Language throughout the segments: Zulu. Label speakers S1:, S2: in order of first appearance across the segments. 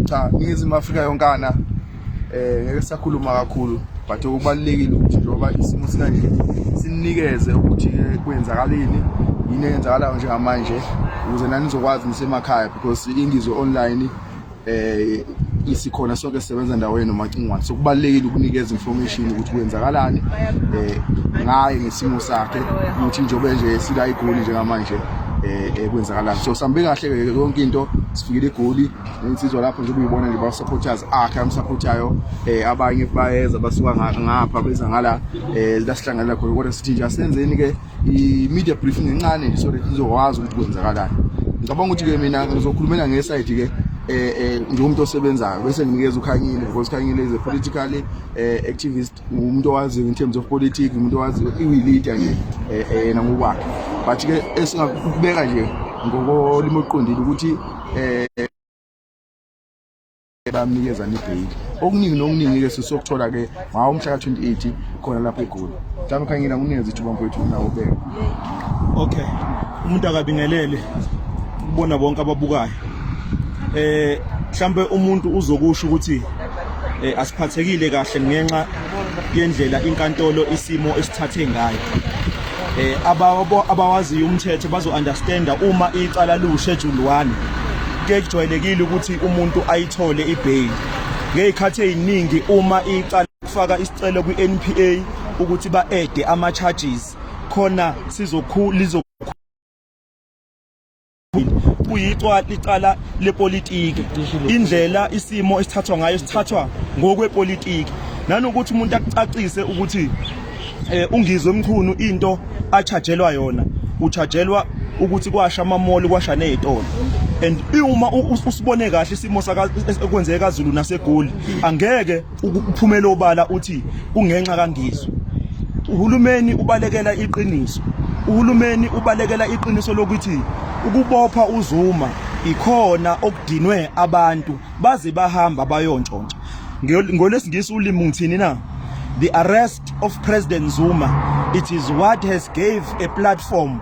S1: cha iningizimu afrika yonkana eh ngeke sakhuluma kakhulu but okubalulekile ukuthi njengoba isimo sikanje sininikeze ukuthi kwenzakaleni yini eyenzakalayo njengamanje ukuze nanizokwazi nisemakhaya because ingizwe online eh isikhona sonke sisebenza ndawo yenu macingwane so kubalekile ukunikeza information ukuthi kwenzakalani eh ngaye ngesimo sakhe ukuthi njobe nje sila igoli njengamanje eh, eh kwenzakalani so sambe kahle ke yonke into sifikile igoli insizwa lapho nje kuyibona nje ba supporters akhe am supportayo eh abanye bayeza basuka ngapha beza ngala eh la sihlangana khona kodwa sithi nje asenzeni ke i-media briefing encane nje so that nizokwazi ukuthi kwenzakalani ngicabanga ukuthi-ke mina ngizokhulumela ngesayidi-ke eh, eh njengomuntu osebenzayo bese nginikeza ukhanyile because khanyile is a political eh, activist umuntu owaziyo in terms of politics umuntu owaziyo iwilita nje eh, eh, yena ngokwakhe but ke esingakubeka nje ngokolimo oqondile ukuthi eh bamnikeza nibheyili okuningi nokuningi-ke sisokuthola-ke ngawo umhla ka-28 khona lapho egoli mhlawumbe khangina kunikeza ithuba mfowethu unawo ubeke okay
S2: umuntu akabingelele kubona bonke ababukayo eh mhlambe umuntu uzokusho ukuthi eh, asiphathekile kahle ngenxa yendlela inkantolo isimo esithathe ngayo eh abawaziyo umthetho bazo understand uma icala lu schedule 1 kujwayelekile ukuthi umuntu ayithole ibail ngezikhathi eziningi uma icala kufaka isicelo kwiNPA ukuthi ba add ama charges khona sizokhulu kuyicwa licala lepolitiki indlela isimo esithathwa ngayo sithathwa ngokwepolitiki nanokuthi umuntu akucacise ukuthi eh, ungizwe mchunu into achajelwa yona uchajelwa ukuthi kwasha amamoli kwasha nezitolo and uma usibone kahle isimo saka ekwenzeka kaZulu nasegoli angeke Uphumela obala uthi kungenxa kangizwe. Uhulumeni ubalekela iqiniso. Uhulumeni ubalekela iqiniso lokuthi ukubopha uZuma ikhona okudinwe abantu baze bahamba bayontshontsha. Ngolesingisi ulimi ngithini na? The arrest of President Zuma it is what has gave a platform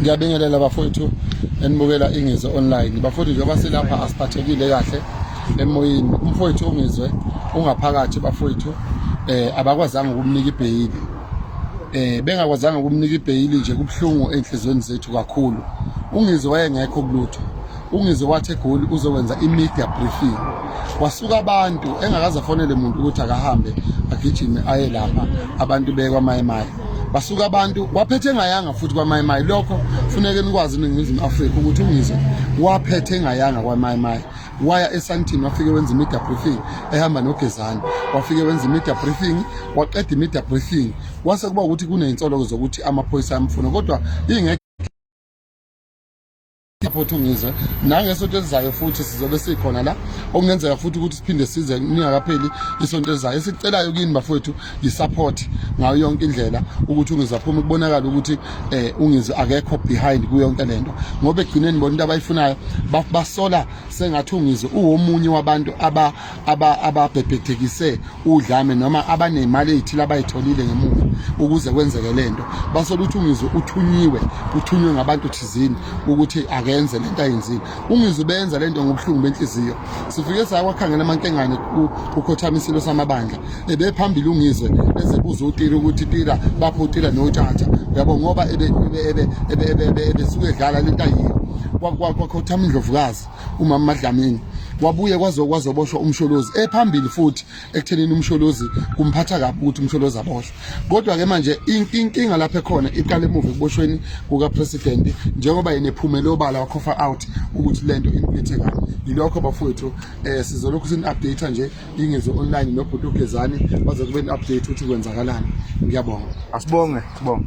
S3: ngiyabingelela bafowethu enibukela ingizwe online bafowethu njengoba silapha asiphathekile kahle emoyeni umfowethu ongizwe ungaphakathi bafowethu eh abakwazanga ukumnika ibheyili eh bengakwazanga ukumnika ibheyili nje kubuhlungu enhlizweni zethu kakhulu ungizwe wayengekho kulutho ungeze wathi egoli uzokwenza i-media briefing wasuka abantu engakaze afonele muntu ukuthi akahambe agijime aye lapha abantu bekwamayimayi basuka abantu waphethe engayanga futhi kwamayimayi lokho funeke nikwazi iningizimu afrika ukuthi ungizwe waphethe engayanga kwamayimayi waya esantini wafike wenza i-media briefing ehamba nogezane wafike wenza i-media briefing waqeda i-media briefing kwase kuba ukuthi kuney'nsoloko zokuthi amaphoyisa ayamfuna kodwa ingekho Support uNgizwe nangesonto elizayo futhi sizobe sikhona la okungenzeka futhi ukuthi siphinde size ningakapheli isonto elizayo esicelayo kini bafowethu yisupport ngayo yonke indlela ukuthi uNgizwe aphume kubonakala ukuthi eh uNgizwe akekho behind kuyo yonke lento ngoba egcineni bona into abayifunayo basola sengathi uNgizwe uwomunye wabantu aba ababhebhethekise udlame noma abanemali eyithile abayitholile ngemuva ukuze kwenzeke lento basola ukuthi ungizwe uthunyiwe uthunywe ngabantu thizini ukuthi akenze lento ayenzile ungizwe benza lento ngobuhlungu benhliziyo sifike sakwakhangela amankengane ukhothamisilo samabandla ebephambili ungizwe ezebuza utira ukuthi tira bapho utira nothatha yabo ngoba ebesuke edlala lento ayile kwakhothama indlovukazi umama Madlamini wabuye kwazoboshwa umsholozi ephambili futhi ekuthenini umsholozi kumphatha kabi ukuthi umsholozi aboshwe kodwa ke manje inkinga lapha ekhona iqale emuva ekuboshweni kuka president njengoba yena ephumele obala wakhofa out ukuthi lento imphethe kabi yilokho bafowethu eh sizolokhu sin update nje ingezo online nobhuti ugezani bazokube update ukuthi kwenzakalani ngiyabonga asibonge sibonge